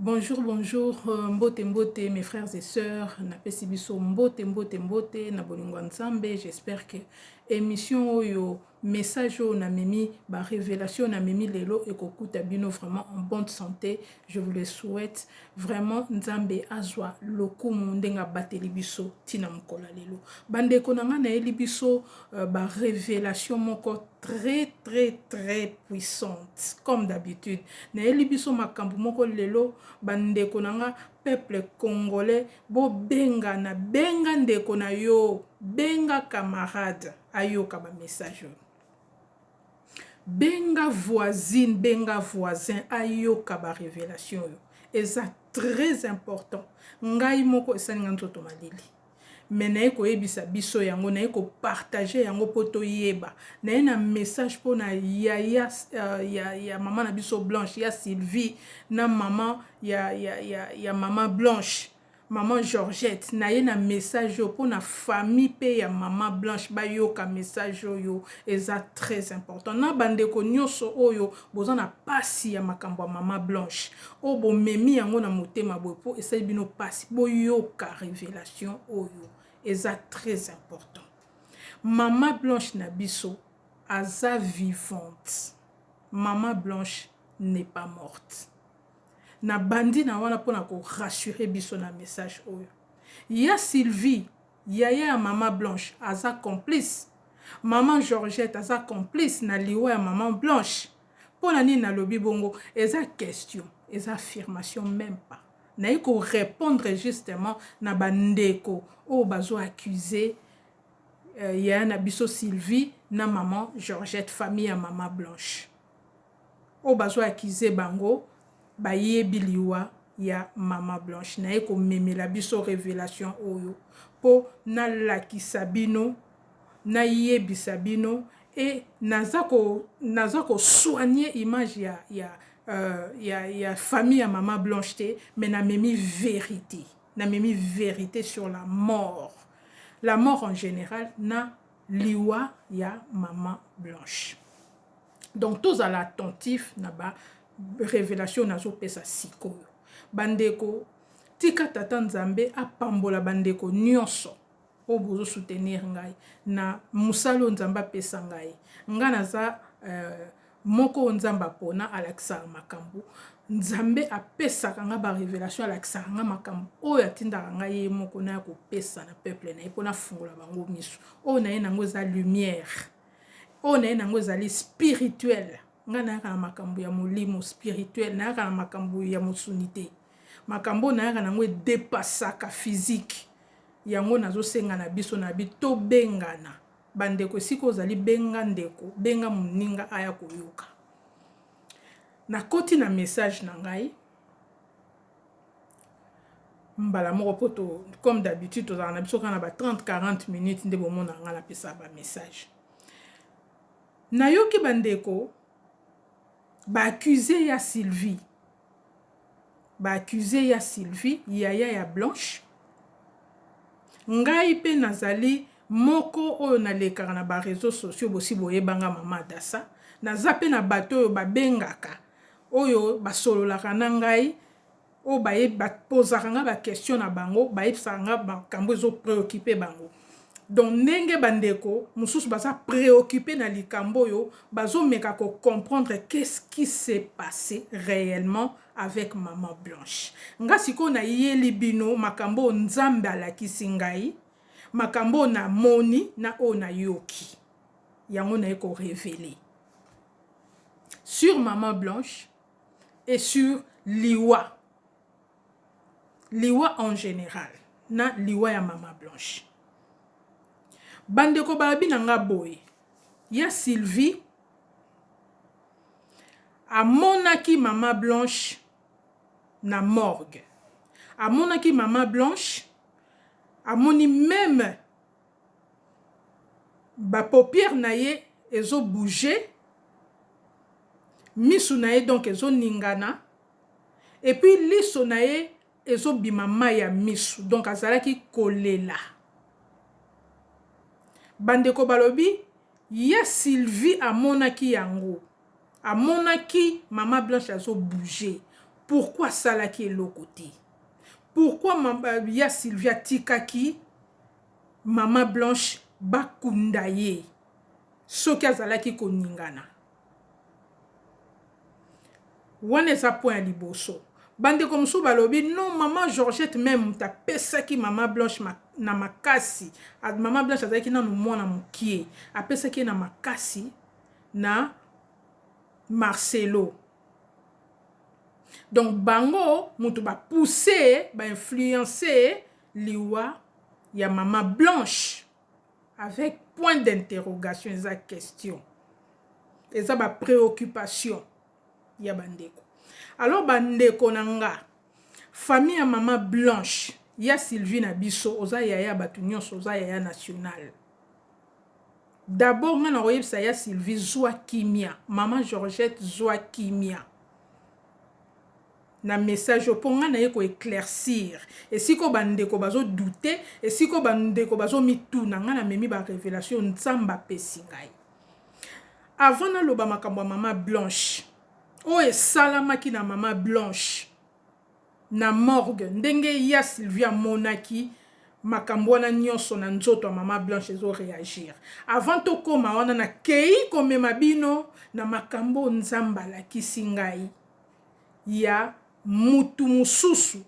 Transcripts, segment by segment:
Bonjour bonjour mbote mbote mes frères et sœurs napesi biso mbote mbote mbote na bolingo ya nzambe j'espère que émission oyo message oyo namemi ba révélation namemi lelo ekokuta bino vraiment en bonne santé je vous le souhaite vraiment nzambe azwa lokumu ndenge abateli biso ntina mokolo ya lelo bandeko na ngai nayeli biso uh, ba révélation moko très très très puissante comme d'habitude nayeli biso makambo moko lelo bandeko na nga peuple congolais bobengana benga ndeko na yo benga camarade ayoka bamessage oyo benga voisine benga voisin ayoka barevelation oyo eza très important ngai moko esali nga nzoto malili mais naye koyebisa biso yango naye ko partager yango po toyeba naye na message pona yaya ya ya maman na biso blanche ya Sylvie na maman ya ya ya ya maman blanche maman Georgette naye na message oyo pona famille pe ya maman blanche bayoka message oyo eza très important na bandeko nioso oyo Boza na pasi ya makambo ya maman blanche oyo bo memi yango na motema boye po esali bino pasi bo yoka revelation oyo eza tres important maman blanche na biso aza vivante maman blanche ne pas morte na bandi na wana pona ko rassurer biso na message oyo ya silvie Yaya ya maman blanche aza complice maman Georgette aza complice na liwa ya maman blanche pona nini na lobi bongo eza question eza affirmation meme pas naye ko repondre justement na ba ndeko oyo bazo accuse yaya na biso Sylvie na maman Georgette famille ya maman blanche. Oyo bazo accuse bango ba yebi liwa ya maman Blanche naye ko memela biso revelation oyo po na lakisa bino na yebisa bino et naza ko naza ko soigner image ya ya ya ya famille ya maman Blanche te mais na memi verite na memi verite sur la mort la mort en general na liwa ya maman Blanche. donc tozala attentif na ba revelation nazopesa sikoyo bandeko tika tata nzambe apambola bandeko nyonso oyo bozo soutenir ngai na mosala oyo nzambe apesa ngai ngai naza euh, moko oyo nzambe apona alakisaka makambo nzambe apesaka ngai barevelation alakisaka ngai makambo oyo atindaka ngai ye moko naya kopesa na peuple na ye mpo nafungola bango miso oyo na ye nango eza lumière oyo naye nango ezali spirituel ngai nayaka na makambo ya molimo spirituel nayaka na makambo ya mosuni te makambo oyo nayaka nango edepasaka physique yango nazosenga na biso na bi tobengana bandeko esika ozali benga ndeko benga moninga aya koyoka nakoti na message na ngai mbala moko mpo to comme d'habitude tozalaka na biso kaka na ba 30 40 minutes nde bomonaka ngai napesaka ba message nayoki bandeko baaccuse ya sylvie baaccuse ya sylvie yaya ya blanche ngai mpe nazali moko oyo nalekaka na bareseau sociaux bosi boyebanga mama adasa naza mpe na bato oyo babengaka oyo ba sololaka na ngai oyo ba ye ba pozaka nga ba question na bango ba yebisaka nga makambu ezo preoccupe bango donc ndenge ba ndeko mususu baza preoccupe na likambo oyo bazo meka ko comprendre qu'est ce qui se passe reellement avec maman blanche nga sikoyo na yeli bino makambo oyo nzambe alakisi ngai makambo oyo na moni na oyo na yoki yango na ye ko reveler sur maman blanche et sur liwa liwa en general na liwa ya maman blanche bandeko balobi na nga boye ya sylvie amonaki mama blanche na morgue amonaki mama blanche amoni meme Ba paupières na ye ezo bouger, misu na ye donc ezo ningana et puis liso na ye ezo bima mayi ya misu donc azalaki ko lela. Ba ndeko ba lobi ya Sylvie a monaki yango, a monaki mama Blanche azo bouger pourquoi a salaki eloko te? Pourquoi ya Sylvie a tikaki Maman Blanche ba kunda ye soki azalaki ko ningana. Wana eza point ya liboso. Ba ndeko mosusu ba lobi non maman Georgette meme moto a pesaki maman Blanche na makasi maman Blanche azalaki nanu mwana mukie a pesaki ye na makasi na Marcelo donc bango mutu ba pousser ba influencer Liwa ya mama blanche avec point d'interrogation eza question eza ba preoccupation ya ba ndeko alors ba ndeko na nga famille ya mama blanche ya Sylvie na biso oza yaya bato nyonso oza yaya national d'abord nga na koyebisa ya Sylvie zwa kimia mama Georgette zwa kimia na message oyo po nga naye ko eclaircir esika oyo ba ndeko bazo doute esika oyo ba ndeko bazo mituna nga na memi ba revelation oyo nzambe apesi ngai avant na loba makambo ya mama blanche oyo esalamaki na mama blanche na morgue ndenge ya sylvia amonaki makambo wana nyonso na nzoto ya mama blanche ezo reagir avant tokoma wana nakei komema bino na makambo oyo nzambe alakisi ngai ya mutu mususu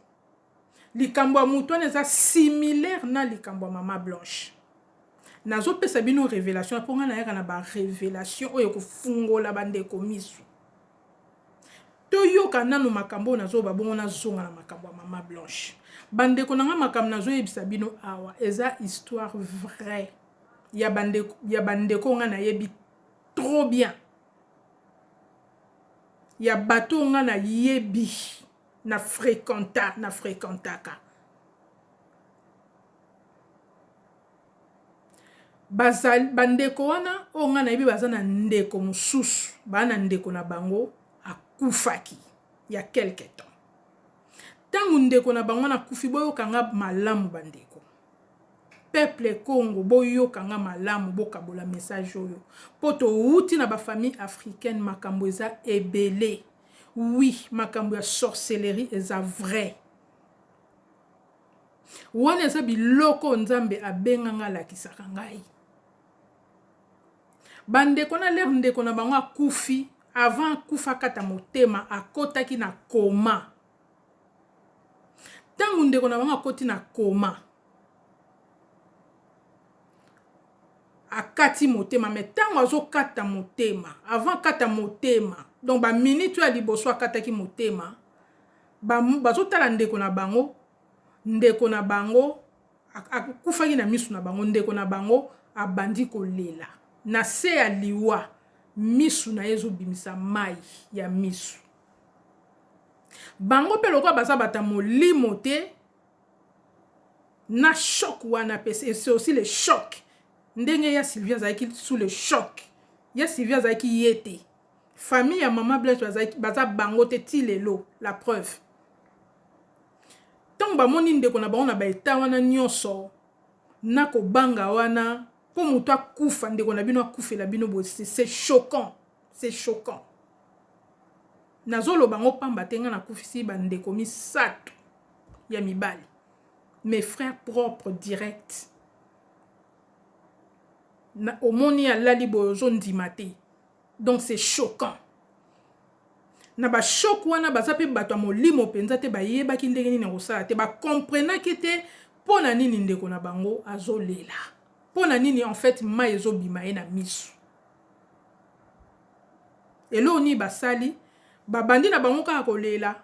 likambo ya mutu wana eza similaire na likambo ya mama blanche nazopesa bino revelation mpo ngai nayaka na barevelation oyo ekofungola bandeko miso toyoka nano makambo oyo nazoloba bongo nazonga na makambo ya mama blanche bandeko na ngai makambo nazoyebisa bino awa eza histoire vraie ya bandeko ya bandeko ngai nayebi trop bien ya bato oyo nga na yebi na frequenta na frequentaka bazali ba ndeko wana oyo nga na yebi baza na ndeko mosusu ba na ndeko na bango akufaki ya quelque temps tangu ndeko na bango wana akufi boyoka nga malamu ba ndeko Peuple Congo boyoka nga malamu bokabola message oyo po towuti na ba famille africaine makambo eza ebele oui makambo ya sorcellerie eza vrai wana eza biloko oyo nzambe abenga nga alakisaka ngai ba ndeko na lere ndeko na bango akufi avant akufa akata motema akotaki na coma Tango ndeko na bango akoti na coma akati motema me ntango azokata motema avant akata motema donc baminute oyo ya liboso akataki motema bazotala ndeko na bango ndeko na bango akufaki na miso na bango ndeko na bango abandi kolela na se ya liwa miso na ye ezobimisa mai ya miso Bango pe lokola baza batu ya molimo te na choc wana pe c'est aussi le choc ndenge ya Sylvie azalaki sous le choc ya Sylvie azalaki ye te famille ya maman Blanche bazalaki baza bango te ti lelo la preuve tango bamoni ndeko na bango na ba etat wana nionso na kobanga wana po mutu akufa ndeko na bino akufela bino boye c'est choquant c'est choquant nazoloba ngo pamba te nga nakufisi bandeko misato ya mibali mes frères propres direct na omoni alali boye ozondima te donc c'est choquant na bashoke wana baza mpe bato ya molimo mpenza te bayebaki ndenge nini ya kosala te bakomprenaki te mpo na nini ndeko na bango azolela mpo na nini en fait mai ezobima ye na miso eloko nini basali babandi na bango kaka kolela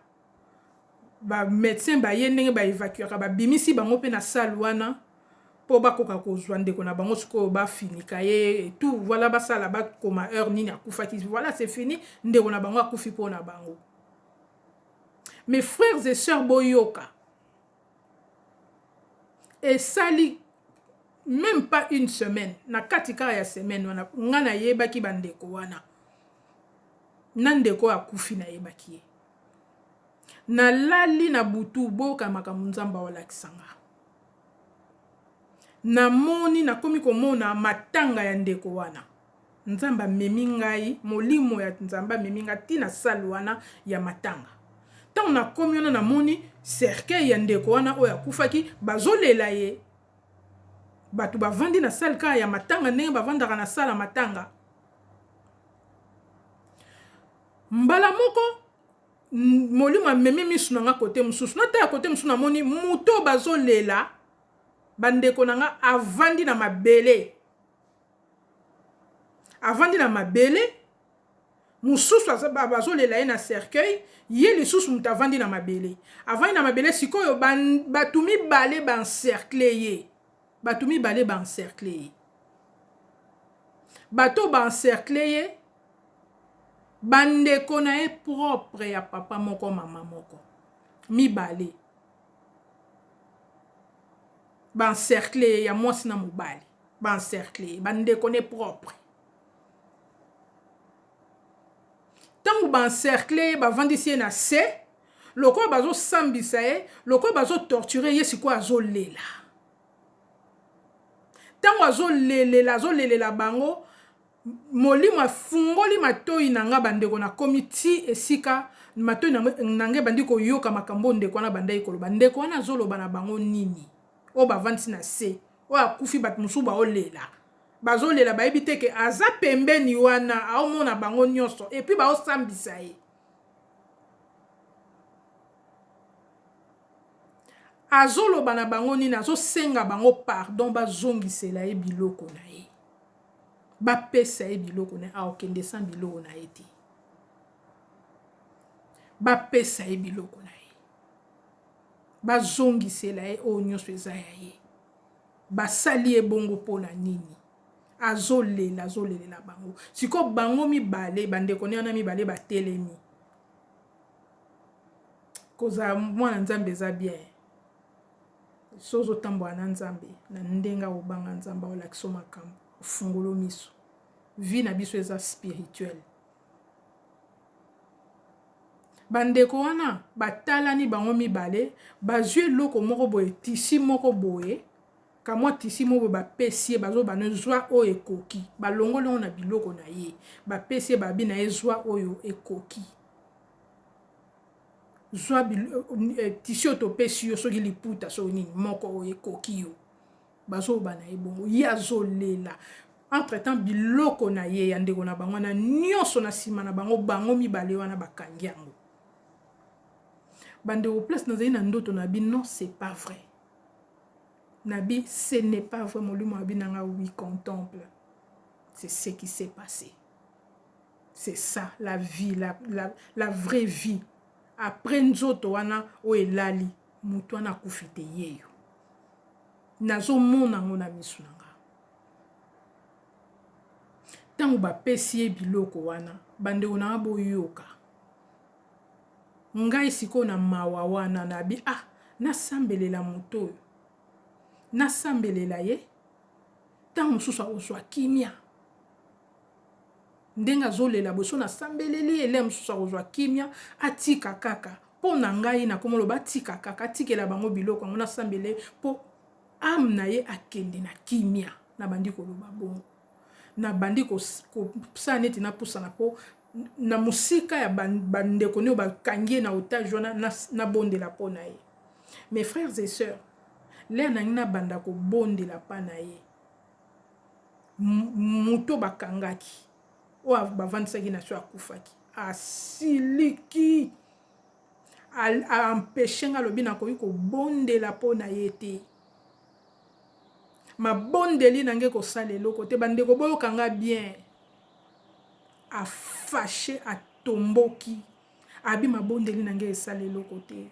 ba medecin baye ndenge ba evacuaka babimisi bango mpe na sale wana mpo bakoka kozwa ndeko na bango sikoyo bafinika ye tout vala basala bakoma heure nini akufaki vala se fini ndeko na bango akufi mpo na bango mes frères et sœurs boyoka esali meme pas une semaine na kati kaka ya semaine wana nga nayebaki ba ndeko wana na ndeko oyo akufi nayebaki ye nalali na butu boyoka makambo nzambe awalakisa nga namoni nakomi komona matanga ya ndeko wana Nzambe amemi ngai, Molimo ya Nzambe amemi ngai ti na salle wana ya matanga. Tango nakomi wana namoni cercueil ya ndeko wana oyo akufaki, bazolela ye. Bato bavandi na salle kaka ya matanga ndenge bavandaka na salle ya matanga. Mbala moko molimo amemi misu na nga kote mosusu natala kote mosusu namoni moto bazolela bandeko na nga avandi na mabele avandi na mabele mususu bazo lela ye na cercueil ye lisusu mutu avandi na mabele avandi na mabele sikoyo batu mibale ba encercle ye batu mibale ba encercle ye bato ba encercle ye ba ndeko na ye propre ya papa moko mama moko mibale ba encercle ye ya mwasi na mobali ba encercle ye bandeko ne propre ntango ba encercle ye bavandisi ye na se lokola bazosambisa ye lokola bazotorture ye sikoyo azolela ntango azolelela azolelela bango molimo afungoli matoi na ngai bandeko nakomi ti esika matoi na ngai ebandi koyoka makambo oyo ndeko wana abandaki koloba ndeko wana azoloba na bango nini oyo bavandisi na se oyo akufi batu mususu bao lela bazo lela bayebi te ke aza pembeni wana ao mona bango nionso et puis bao sambisa ye azo loba na bango nini azo senga bango pardon ba zongisela ye biloko na ye ba pesa ye biloko na ye ao kende sans biloko na ye te ba pesa ye biloko na ye Bazongisela ye oyo nionso eza ya ye. Basali ye bongo pona nini? Azo lela, azo lelela bango. Sikoyo bango mibale, ba ndeko ne wana mibale ba telemi. Kozala mwana Nzambe eza bien. So ozo tambola na Nzambe, na ndenge ako banga Nzambe, ao lakisa yo makambo. Ofungola yo miso. Vie na biso eza spirituelle. Bandeko wana batalani bango mibale, bazwi eloko moko boye, tisi moko boye, kamwa tisi moko boye bapesi ye, bazo bana zwa oyo ekoki, balongoli yango na biloko na ye, bapesi ye babi na ye zwa oyo ekoki. zwa eh, tisi oyo topesi yo soki liputa soki nini moko oyo ekoki yo bazoloba na ye bongo ye azolela entre temps biloko na ye ya ndeko na bango wana nyonso na nsima na bango bango mibale wana bakangi yango bandeko place nazali na ndoto na bi non c'est pas vrai na bi ce n'est pas vrai molimo ya binanga oui contemple c'est ce qui s'est passé c'est ça la vie la, la, la vraie vie après nzoto wana oyo elali Mutu wana akufi te yeyo nazo mona ngo na misu na nga tangu ba pesi ye biloko wana bandeko na nga boyoka ngai sikoyo na mawa wana na bi ah nasambelela moto oyo nasambelela ye ntango mosusu akozwa kimia Ndenge azolela boso na sambeleli ye lè mosusu akozwa kimia atika kaka po na ngai nakomoloba atika kaka atikela bango biloko yango na sambele po ame na ye akende na kimia na bandi koloba bongo na bandi kosala neti na pusana po na mosika ya bandeko nio bakangi ye na otage wana na bondela po na ye mes frères et sœurs lè nangi nabanda kobondela pa na ye moto bakangaki oyo bavandisaki na so akufaki asiliki aempeshe nga alobi nakoki kobondela mpo na ye te mabondeli na nge kosala eloko te bandeko boyoka nga bien afashe atomboki Abi mabondeli na ngai esali eloko te.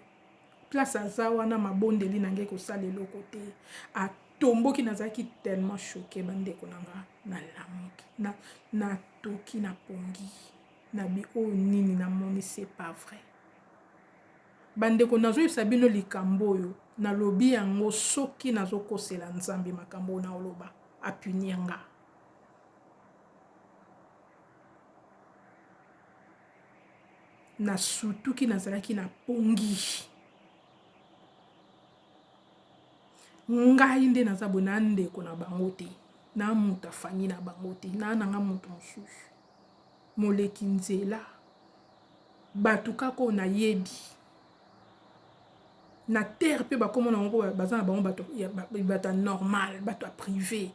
Place aza wana mabondeli na ngai ekosala eloko te. A tomboki nazalaki tellement choqué bandeko na nga nalamuki na natoki na pongi na bi oyo nini namoni c'est pas vrai bandeko nazoyebisa bino likambo oyo nalobi yango soki nazokosela nzambe makambo oyo naoloba apunir nga na sutuki nazalaki na pongi ngai nde naza boye na ndeko na bango te na moto afami na bango te na nanga moto mosusu moleki nzela bato kaka oyo nayebi na terre mpe bakoma na bango baza na bango bato ya normal bato ya privé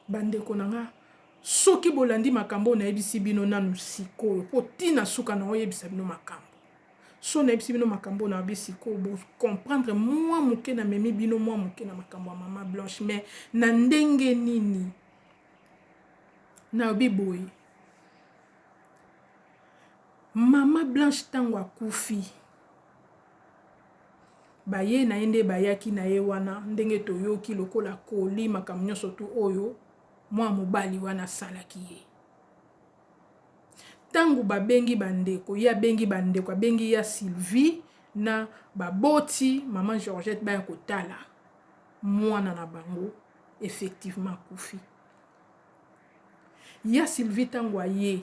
Bandeko na nga, soki bolandi makambo oyo nayebisi bino nanu sikoyo, po ti na suka nao yebisa bino makambo. Soki nayebisi bino makambo oyo nalobi sikoyo, bo comprendre mua moke, na memi bino mua moke na makambo ya mama Blanche. Mais na ndenge nini? Nalobi boye, mama Blanche tango akufi, Baye na ye nde bayaki na ye wana ndenge toyoki lokola Coly makambo nionso tout oyo mua mobali wana asalaki ye. Tango ba bengi ba ndeko ye abengi ba ndeko abengi ya Sylvie na ba boti maman Georgette baya kotala muana na bango effectivement akufi. Ya Sylvie tango aye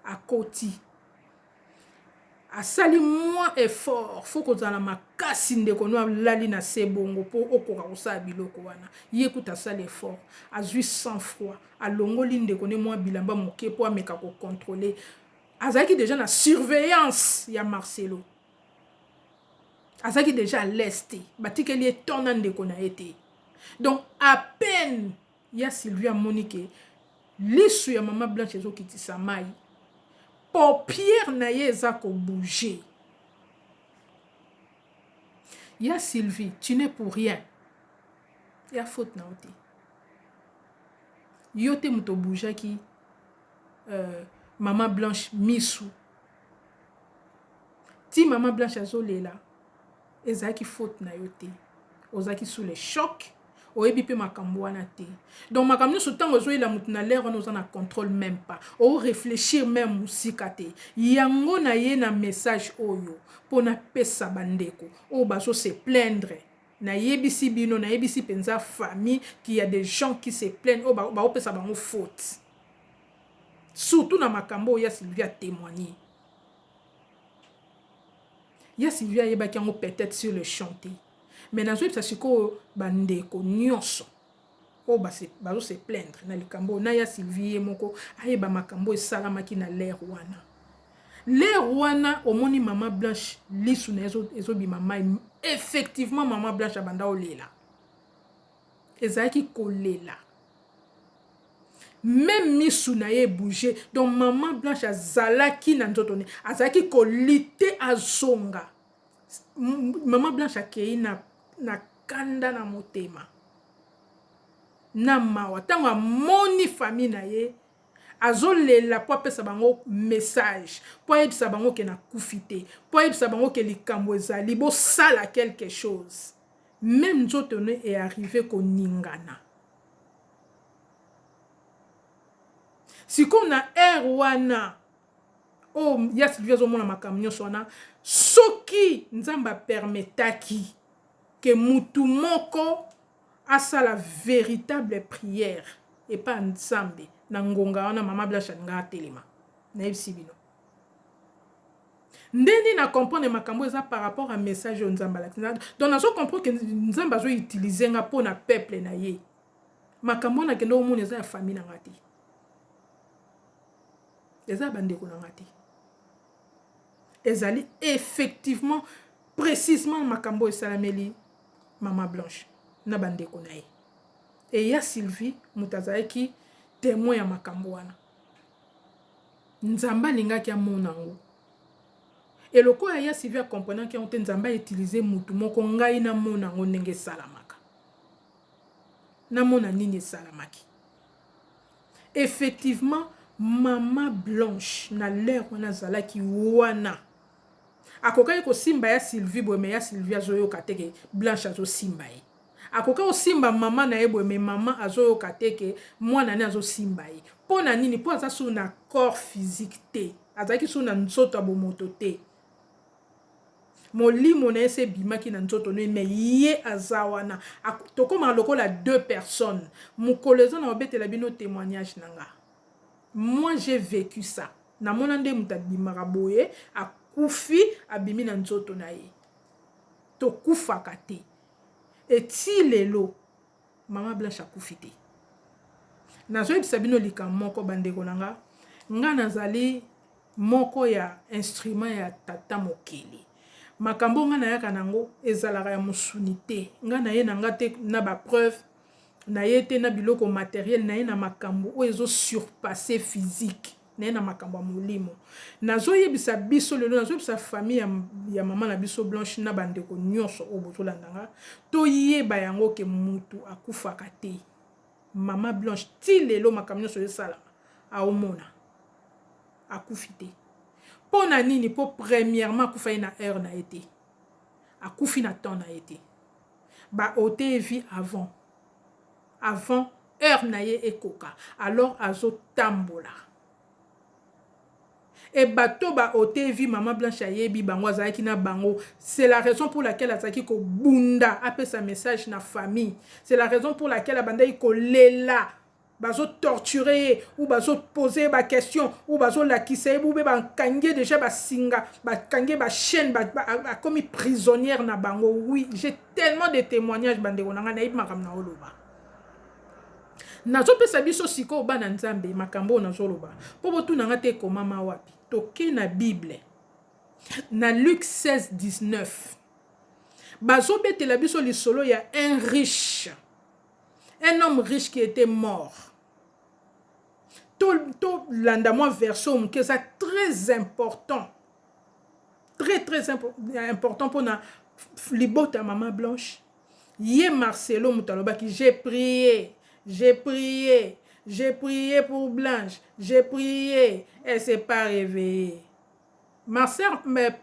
akoti Asali mwa effort faut kozala makasi ndeko no alali na se bongo po okoka kosala biloko wana ye kutu asali effort azui sans froid alongoli ndeko ne mwa bilamba moke po ameka ko controler azalaki deja na surveillance ya Marcelo azalaki deja à l'est te batikeli ye temps na ndeko na ye te donc à peine Ya Sylvia amoni ke lisu ya maman Blanche ezo kitisa mayi. Paupiere na ye eza ko bouger. Ya Sylvie tu n'es pour rien. Eza faute na yo te. Yo te moto obujaki euh, maman Blanche misu. Ti maman Blanche azolela. Ezalaki faute na yo te. Ozalaki sous le choc. Oyebi pe makambu wana te. Donc makambu nionso tango ozo yela mutu na l'heure wana oza na controle meme pas. O reflechir meme musika te. Yango na ye na message oyo po na pesa ba ndeko oyo bazo se plaindre. Na yebisi bino, na yebisi penza famille qu'il ya des gens qui se plaignent oyo ba ko pesa bango faute. Surtout na makambu oyo ya Sylvie a temoigner. Ya Sylvie ayebaki yango peut-etre sur le champ te. Mais nazoyebisa sikoyo ba ndeko nionso oyo base bazo se plaindre na likambo oyo na ya Sylvie ye moko ayeba makambo esalamaki na l'heure wana. L'heure wana omoni mama Blanche lisu na ye ezobima mayi effectivement mama Blanche abanda olela. ezalaki kolela meme misu na ye ebouge donc maman blanche azalaki na nzoto ne azalaki kolite azonga maman blanche akei na, na kanda na motema na mawa ntango amoni fami na ye azolela mpo apesa bango message mpo ayebisa bango ke na kufi te mpo ayebisa bango ke likambo ezali bosala quelque chose Meme nzoto no e arriver ko ningana. Sikoyo na heure wana oyo ya Sylvie azo mona makambo nionso wana soki Nzambe a permetaki que mutu moko asala veritable prière epa Nzambe na ngonga wana maman Blanche alingaka atelema. Nayebisi bino. Nde nini na comprendre makambo oyo eza par rapport ya message oyo Nzambe alakisi nga. Donc nazo comprendre que Nzambe azo utiliser nga po na peuple na ye. Makambo wana nakendeki komona eza ya famille na nga te. Eza ya ba ndeko na nga te. Ezali effectivement precisement makambo oyo esalameli maman Blanche na ba ndeko na ye. Et ya Sylvie mutu azalaki temoin ya makambo wana. Nzambe alingaki amona yango. Et lokola ya Sylvie a comprenaki yango te, Nzambe a utiliser mutu moko ngai namona yango ndenge esalamaka. Namona nini esalamaki. Effectivement, mama Blanche na l'heure wana azalaki wana. Akokaki kosimba ya Sylvie boye mais ya Sylvie azoyoka te que Blanche azosimba ye. Akoki osimba maman naye boye mais maman azoyoka te que mwana ne azosimba ye pona nini po aza sous na corps physique te azalaki sous na nzoto ya bomoto te molimo naye se ebimaki na nzoto ne mais ye aza wana tokomaka lokola deux personnes mokolo eza na obetela bino temoignage na nga moi j'ai vecu ça namona nde moto abimaka boye akufi abimi na nzoto na ye tokufaka te et tii lelo maman blanche akufi te nazo yebisa bino likambo moko ba ndeko na nga nga nazali moko ya instrument ya tata mokeli makambo nga nayaka nango ezalaka ya mosuni te nga naye na nga te na ba preuve na ye te na biloko materiel na ye na makambo oyo ezo surpasser physique na ye na makambo ya molimo. Nazoyebisa biso lelo, nazoyebisa famille ya, ya mama na biso Blanche na bandeko nyonso oyo bozolanda nga, toyeba yango ke mutu akufaka te. Mama Blanche ti lelo makambo nyonso esalama aomona akufi te. Mpo na nini? Mpo premièrement akufaki na heure na ye te, akufi na temps na ye te, ba oteye vie avant avant heure na ye ekoka alors azo tambola et bato ba ote vie maman blanche ayebi bango azalaki na bango c'est la raison pour laquelle azalaki ko bunda apesa message na famille c'est la raison pour laquelle abandaki ko lela bazo torture ye ou bazo poser ye ba question ou bazo lakisa ye boube ba kangi ye dejà ba singa ba kangi ye ba chaine ba akomi prisonnière na bango oui j'ai tellement de témoignages ba ndeko na nga nayebi makambo na oloba nazopesa biso sikoyo bana nzambe makambo oyo nazoloba mpo botuna nga te ekomama wapi toke na bible na luke 16 19 bazobetela biso lisolo ya un riche un homme riche qui etait mort tolanda mwa version moke eza très important très très important mpona libota ya mama blanche ye marcelo moto alobaki j'ai prié j'ai prié j'ai prié pour blanche j'ai prié elle s'est pas réveillée marcel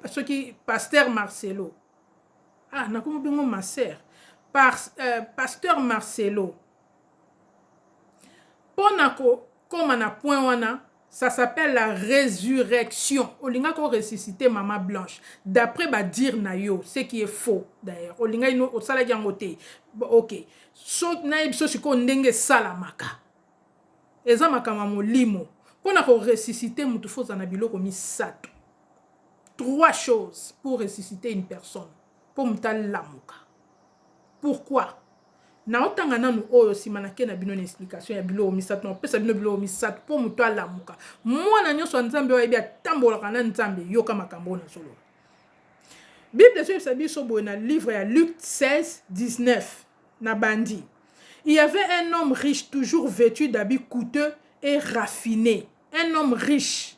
soki pasteur marcelo ah nakomi bengo ma sœur par euh, pasteur Marcelo pona ko koma na point wana ça s'appelle la résurrection olingaki oressuscite mama blanche d'après badire na yo ce qui est faux d'ailleurs olingaki no osalaki yango te ok so nayebi so sikoyo ndenge esalamaka eza makambo ya molimo mpo na koressuscite motu fo ozala na biloko misato Trois choses pour ressusciter une personne po moto alamuka pourquoi? Nao tanga nanu oyo sima nake na bino na explication ya biloko misato nao pesa bino biloko misato po moto alamuka. Mwana nyonso ya Nzambe oyo ayebi atambolaka na Nzambe yoka makambo oyo nazoloba. Bible ezoyebisa biso boye na livre ya Luc 16 19 na bandi il y avait un homme riche toujours vêtu d'habits coûteux et raffiné un homme riche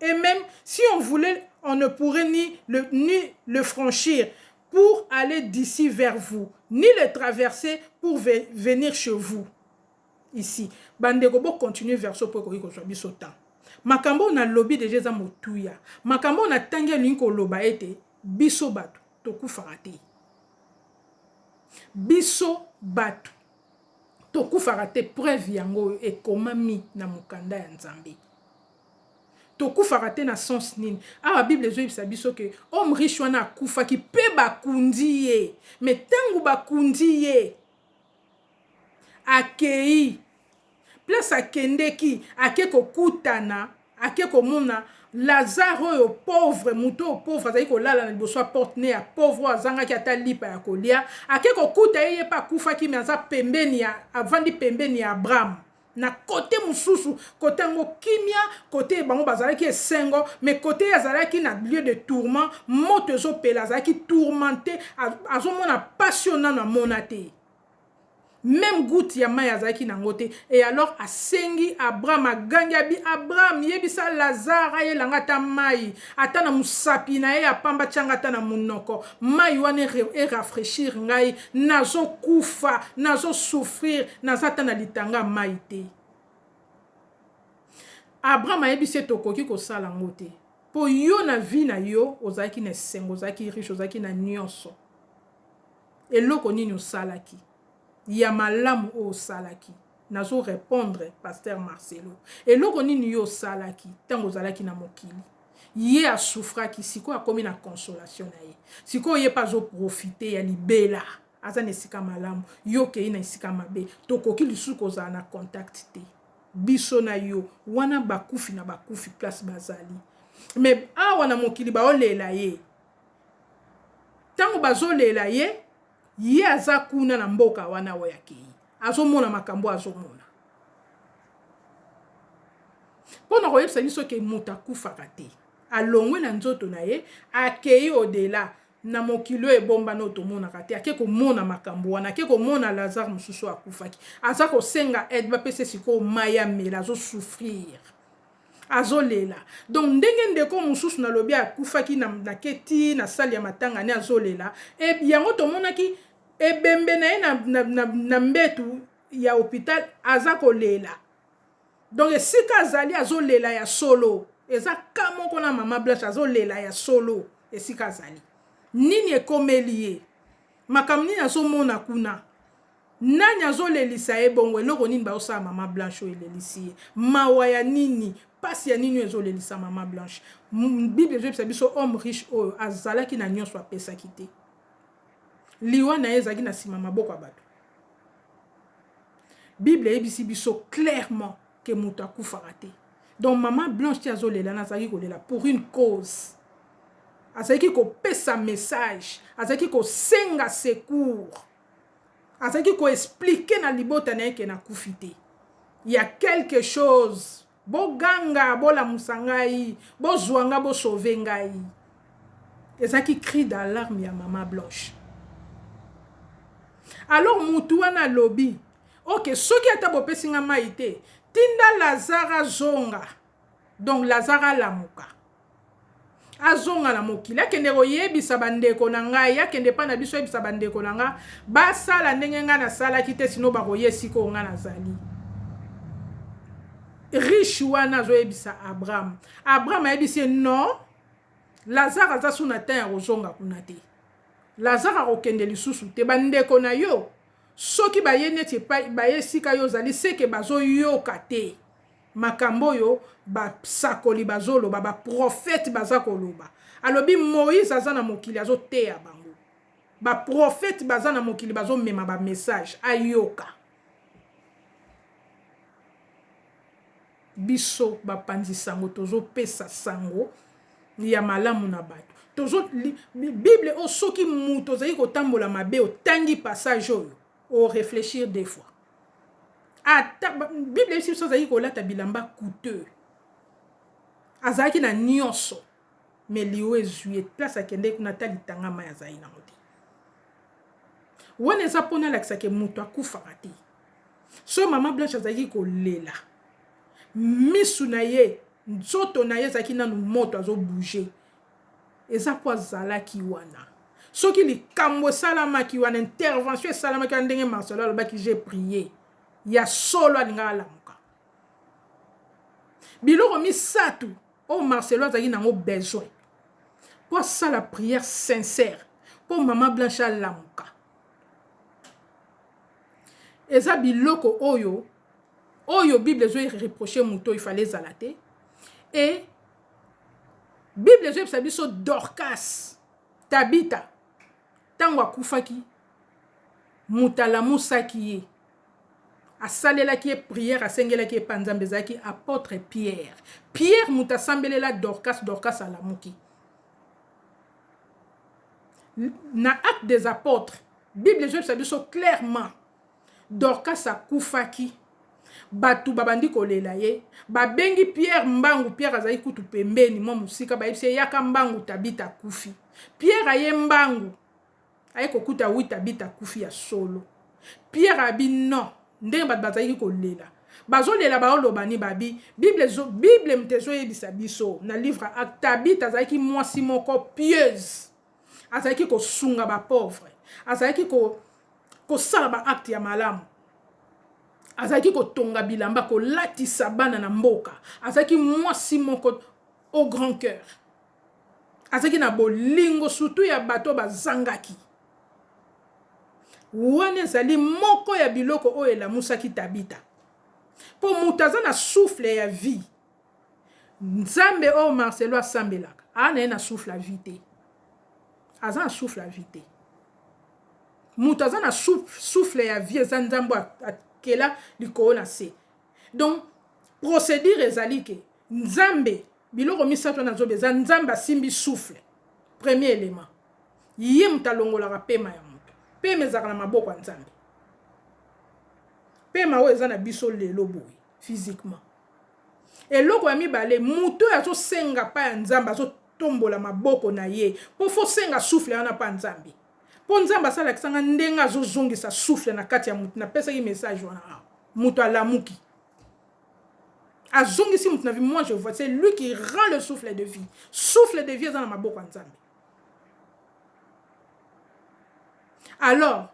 et meme si on voulait on ne pourrait ni le ni le franchir pour aller d'ici vers vous ni le traverser pour venir chez vous ici ba ndeko bo continuer version po ekoki kozua biso temps makambo oyo na lobi deja eza motuya makambo oyo na tangi elingi koloba ete biso bato tokufaka te biso bato tokufaka te preuve yango oyo ekomami na mokanda ya nzambe Tokufaka te na sens nini? Awa bible ezoyebisa biso que homme riche wana akufaki pe bakundi ye mais tangu bakundi ye akeyi place akendeki ake kokutana ake komona Lazare oyo pauvre mutu oyo pauvre azali kolala na liboso ya porte ne ya pauvre oyo azangaki ata lipa ya kolia ake kokuta ye ye pe akufaki mais aza pembeni ya avandi pembeni ya Abraham Na cote mosusu, cote yango kimia, cote bango bazalaki esengo, mais cote ye azalaki na lieu de tourment, moto ezo pela, azalaki tourmente, azo mona pasi oyo nanu amona te. Meme goute ya mayi azalaki na yango te et alors asengi Abraham, agangi, abi Abraham yebisa Lazare ayela nga ata mayi. Ata na musapi naye ya pamba tia nga ata na munoko mayi wana e rafraichir ngai nazo kufa nazo souffrir naza ata na litanga ya mayi te Abraham ayebisi ye tokoki kosala ngo te po yo na vie na yo ozalaki na esengo ozalaki riche ozalaki na nionso eloko nini osalaki ya malamu oyo osalaki Nazo repondre pasteur Marcelo. Eloko nini yo osalaki tango ozalaki na mokili? Ye a souffraki sikoyo akomi na consolation na ye. Sikoyo ye pe azo profiter ya libela. Aza na esika malamu, yo okeyi na esika mabe. Tokoki lisusu kozala na contact te. Biso na yo. Wana bakufi na bakufi place bazali. Mais awa na mokili baolela ye. Tango bazolela ye. Ye aza kuna na mboka wana oyo akeyi. Azo mona makambo oyo azo mona. Po na koyebisa biso ke moto akufaka te. Alongwe na nzoto na ye, akeyi au dela. Na mokili oyo ebombana oyo tomonaka te. Ake komona makambo wana. Ake komona Lazare mosusu oyo akufaki. Aza kosenga aide, bapesa ye sikoyo mayi amela. Azo souffrir. Azo lela donc ndenge ndeko mususu na lobi akufaki na nake ti na salle ya matanga ne azo lela et yango tomonaki ebembe na ye na, na, na, na mbetu ya hopital aza ko lela donc esika azali azo lela ya solo eza ka moko na mama blanche azo lela ya solo esika azali nini ekomeli ye makambo nini azomona kuna Nani azo lelisa ye bongo eloko nini bazo sala maman blanche oyo elelisi ye mawa ya nini pasi ya nini oyo ezo lelisa maman blanche bible ezo yebisa biso homme riche oyo azalaki na nionso apesaki te liwa na ye ezalaki na sima maboko ya batu bible eyebisi biso clairement ke mutu akufaka te donc maman blanche ti azo lela na azalaki kolela pour une cause azalaki kopesa message azalaki kosenga secours azalaki ko expliquer na libota na ye ke nakufi te ya quelque chose boganga bolamusa ngai bozua nga bo sauver ngai ezalaki cri d'alarme ya mama blanche alors mutu wana alobi ok soki ata bopesi nga mai te tinda lazare azonga donc lazare alamuka Azonga na mokili, akende koyebisa bandeko na ngai, akende epai na biso ayebisa bandeko na ngai basala ndenge ngai nasalaki te, sino bakoya esika oyo ngai nazali. Riche wana azoyebisa Abraham, Abraham ayebisi ye non, Lazare aza su na temps ya kozonga kuna te, Lazare akokende lisusu te, bandeko na yo soki baye neti epai baye esika yo ozali seke bazoyoka te. Makambo oyo ba sakoli bazo loba ba prophete baza koloba alobi moise aza na mokili azo teya bango ba prophete baza na mokili bazo mema ba message ayoka biso ba panzi sango tozo pesa sango ya malamu na batu tozo bible oyo soki mutu ozali kotambola mabe otangi passage oyo o reflechir deux fois ata bible eyebisi biso azalaki kolata bilamba coûteux azalaki na nyonso me liwa ezwi ye place akendeki kuna ata litanga mai azalaki nango te wana eza mpo nalakisa ke moto akufaka te so mama blanche azalaki kolela misu na ye nzoto na ye ezalaki nanu moto azobouge Eza po azalaki wana. Soki likambu esalamaki wana, intervention esalamaki wana ndenge Marcelo alobaki j'ai prie, ya solo alingaki alamuka. Biloko misatu oyo Marcelo azalaki nango besoin po asala prière sincère po mama Blanche alamuka. Eza biloko oyo, oyo bible ezo reprocher mutu oyo il fallait ezala te et Bible ezo yebisa biso Dorcas, Tabita tangu akufaki mutu alamusaki ye asalelaki ye prière asengelaki epa Nzambe ezalaki apotre Pierre. Pierre mutu asambelela Dorcas, Dorcas alamuki. Na acte des apotres, Bible ezo yebisa biso clairement Dorcas akufaki, batu babandi kolela ye, babengi Pierre mbangu, Pierre azalaki kutu pembeni mwa mosika, bayebisi ye yaka mbangu Tabita akufi. Pierre aye mbangu, aye kokuta oui Tabita akufi ya solo. Pierre abi non, ndenge batu bazalaki kolela, bazolela baoloba nini? Babi bible ezo, bible moto ezoyebisa biso na livre ya Acte, Tabita azalaki mwasi moko pieuse, azalaki kosunga bapauvre azalaki kosala ko baacte ya malamu azalaki kotonga bilamba kolatisa bana na mboka azalaki mwasi moko au grand cœur azalaki na bolingo surtout ya bato bazangaki wana ezali moko ya biloko oyo elamusaki tabita mpo moto aza na souffle ya vie Nzambe oyo Marcelo asambelaka aza na ye na souffle ya vie te. Aza na souffle ya vie te. Moto aza na souffle ya vie eza Nzambe akela likolo na se. Donc procédure ezali ke Nzambe biloko misato wana zoba eza Nzambe asimbi souffle. Premier element. Ye moto alongolaka pema ya moto. Pema ezalaka na maboko ya Nzambe. Pema oyo eza na biso lelo boye physiquement. Eloko ya mibale mutu oyo azo senga pa ya nzambe azo tombola maboko na ye po fo senga souffle wana pa nzambe po nzambe asa lakisa nga ndenge azo zongisa souffle na kati ya mutu na pesaki message wana awa mutu alamuki azongisi mutu na vie moi je vois c'est lui qui rend le souffle de vie souffle de vie eza na maboko ya nzambe alors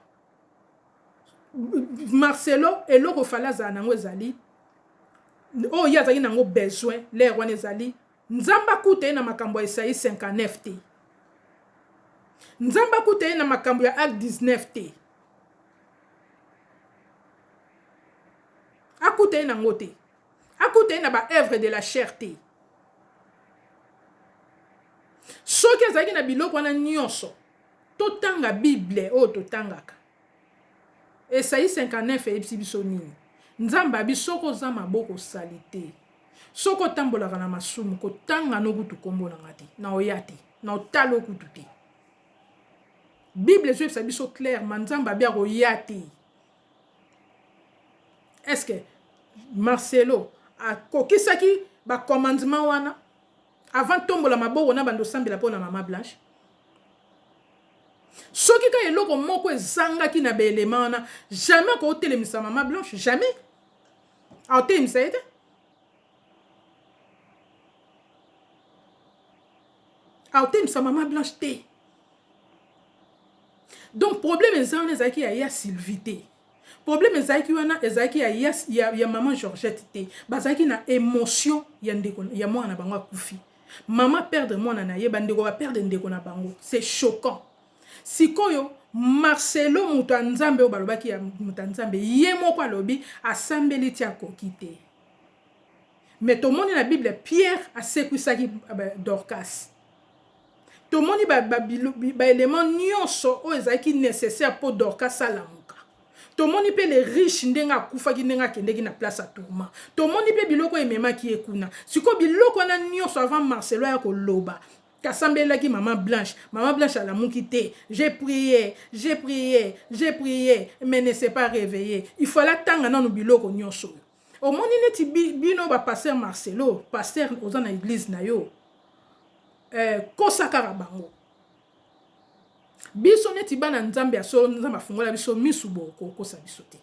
Marcelo eloko fallait azala na yango ezali oyo ye azalaki na yango besoin l'heure wana ezali Nzambe akuta ye na makambo ya Esaïe 59 te. Nzambe akuta ye na makambo ya Acte 19 te. Akuta ye na yango te. Akuta ye na ba œuvres de la chair te. Soki azalaki na biloko wana nyonso, Totanga Bible oyo totangaka. Esaïe 59 eyebisi biso nini? Nzambe abi soki oza maboko salite, soki otambolaka na masumu, kotanga no kutu kombo na nga te, na oya te, na otalo kutu te. Bible ezoyebisa biso clairement Nzambe abi akoya te. Est-ce que Marcelo akokisaki ba commandement wana avant tombola maboko na bando sambela pona mama Blanche? Soki ka eloko moko ezangaki na ba elements wana jamais akoki kotelemisa mama Blanche jamais akotelemisa ye te. akotelemisa mama blanche te donc problème eza wana ezalaki ya ya sylvie te Problème ezalaki wana ezalaki ya ya, ya, ya maman Georgette te. Bazalaki na emotion ya ndeko ya mwana na bango akufi. Maman perdre mwana na ye, bandeko ba perdre ndeko na bango. C'est choquant. Sikoyo Marcelo moto ya Nzambe oyo balobaki ya moto ya Nzambe, ye moko alobi asambeli ti akoki te. Mais tomoni na Bible Pierre asekwisaki Dorcas. Tomoni ba ba elements nionso oyo ezalaki necessaire po Dorcas alamuka. Tomoni pe le riche ndenge akufaki ndenge akendeki na place ya Tourment. Tomoni pe biloko oyo ememaki ye kuna. Sikoyo biloko wana nionso avant Marcelo aya koloba asambelelaki maman Blanche. Maman Blanche alamuki te. J'ai prie, j'ai prie, j'ai prie mais ne s'est pas reveille. Il fallait atanga nanu biloko nionso oyo. omoni neti bino ba pasteur marcelo pasteur oza na eglise na yo eh, kosa kaka bango biso neti bana nzambe ya solo nzambe afungola biso misu bokokosa biso te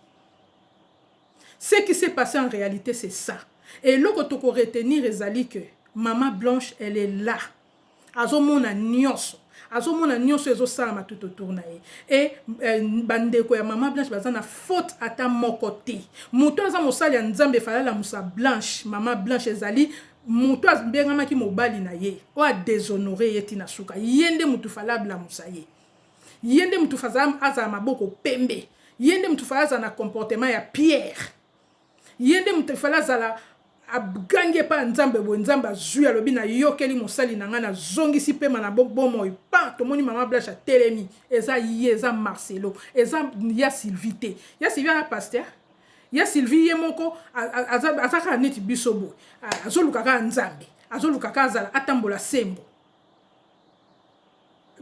ce qui s'est passé en réalité c'est ça eloko tokoretenir ezali que mama blanche elle est là azo mona nionso azo mona nionso oyo ezo salama tout autour na ye et ba ndeko ya maman blanche baza na faute ata moko te mutu aza mosali ya nzambe fallait alamusa blanche maman blanche ezali mutu abengamaki mobali na ye oyo a deshonore ye ti na suka ye nde mutu fallait ablamusa ye ye nde mutu fallait azala maboko pembe ye nde mutu fallait azala na comportement ya pierre Ye nde moto il fallait azala abgangi epai ya Nzambe boye, Nzambe azui alobi na yokeli mosali na ngai na zongisi pema na bomoi pan tomoni maman blache atelemi eza ye eza Marcelo eza ya Sylvie te ya Sylvie aza pasteur? Ya Sylvie ye moko aza kaka neti biso boye azoluka kaka Nzambe azoluka kaka azala atambola sembo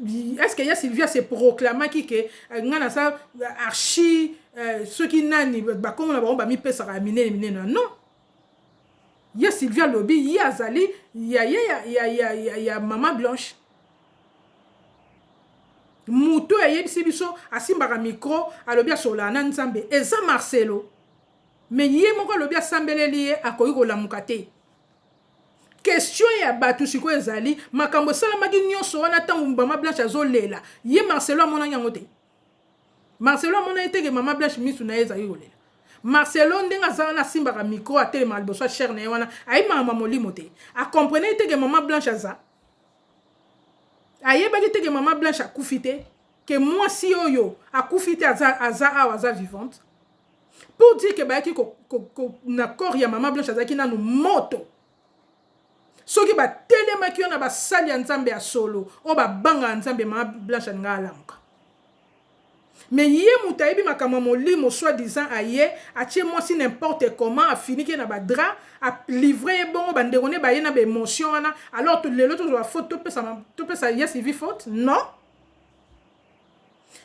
est ce que ya Sylvia se proclamaki que euh, nga na sa euh, archi euh, soki nani bakombo na bango bamipesaka ya minene minene na non ya Sylvia lobi ye azali ya ye ya, ya, ya, ya, ya mama blanche moto ayebisi biso asimbaka mikro alobi asololaka na nzambe eza marcelo me ye moko alobi asambeleli ye akoki kolamuka te Question ya batu sikoyo ezali makambo esalamaki nionso wana tango maman Blanche azo lela ye Marcelo amonaki yango te? Marcelo amona ye te ke maman Blanche misu na ye ezali kolela? Marcelo ndenge aza wana asimbaka micro atelemaka liboso ya chaire na ye wana ayebi makambo ya molimo te? A comprenaki te ke maman Blanche aza? Ayebaki te ke maman Blanche akufi te? Ke mwasi oyo akufi te aza awa aza vivante? pour dire que bayaki ko, ko, ko, na corps ya mama blanche azalaki nanu moto soki batelemaki yo na basali ya nzambe ya solo oyo babangaka nzambe mama blanche alinga alamuka me ye moto ayebi makambo ya molimo soit disant aye atie mwasi n'importe comment afiniki ye na badra alivre ye bongo bandeko ne baye na baemotion wana alors lelo tozwa faute topesa, topesa ye sivi faute non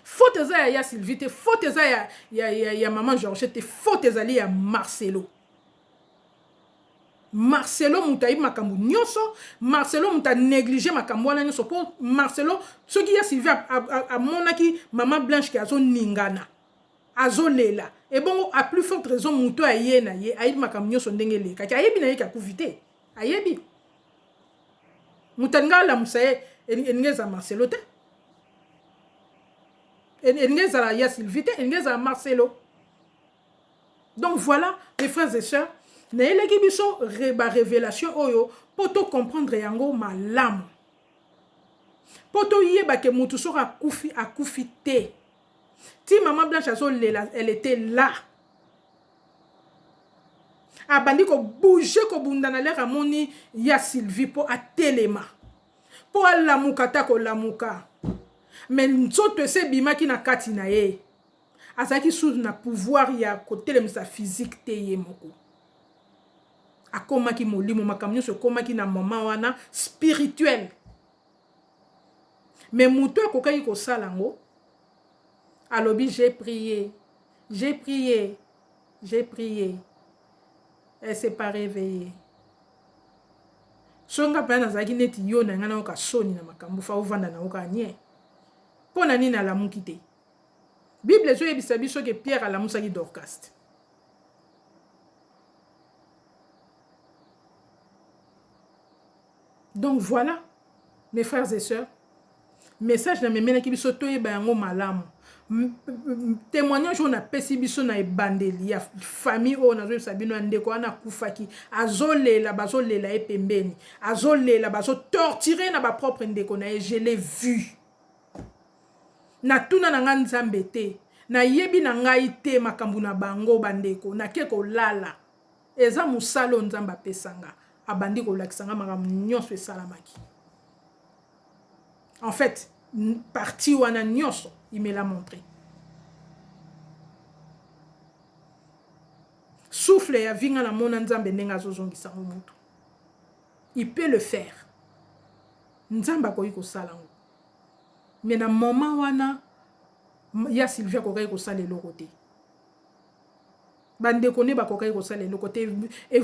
Faute eza ya ya Sylvie te, faute eza ya, ya, ya, ya maman Georgette te, faute ezali ya Marcelo. Marcelo moto ayebi makambo nyonso, Marcelo moto a neglige makambo wana nyonso mpo Marcelo soki ya Sylvie amonaki mama Blanche ke azoningana, azolela, ebongo a plus forte raison moto aye na ye ayebi makambo nyonso ndenge elekaki, ayebi na ye ke akufi te. Ayebi moto alinga alamusa ye elingi ezala Marcelo te elingi ezala ya Sylvie te elingi ezala Marcelo donc voilà mes frères et sœurs nayelaki biso ba révélation oyo mpo tocomprendre yango malamu mpo toyeba ke motu soki akufi akufi te ti maman blanche azo lela elle etait là abandi ko bouger ko bunda na lere amoni ya Sylvie po atelema po alamuka ata kolamuka mais nzoto ese ebimaki na kati na ye azalaki sous na pouvoir ya kotelemisa physique te ye moko akomaki molimo makambo nyonso ekomaki na moment wana spirituel mais mutu oyo akokaki kosala yango alobi j'ai prie j'ai prie j'ai prie elle s'est pas reveille soki nga mpenza nazalaki neti yo na ngai nayoka soni na makambo fa ovanda na yoka nie mpo na nini alamuki te bible ezoyebisa biso ke pierre alamusaki dorcaste Donc voila mes frères et soeurs message na memelaki biso toyeba yango malamu témoignage oyo napesi biso na ebandeli ya famille oyo nazoyebisa bino ya ndeko wana akufaki azolela bazolela ye pembeni azolela bazotortire na bapropre ndeko na ye je l'ai vu natuna na ngai nzambe te nayebi na ngai te makambo na bango bandeko nake kolala Eza mosala oyo Nzambe apesa nga. Abandi kolakisa nga makambo nionso esalamaki. En fait, partie wana nionso, il me l'a montre. Souffle ya vie nga na mona Nzambe ndenge azozongisa ngo mutu. Il peut le faire. Nzambe akoki kosala ngo. Mais na moment wana, ya Sylvia akokaki kosala eloko te. Ba ndeko ne bakokaki kosala eloko te.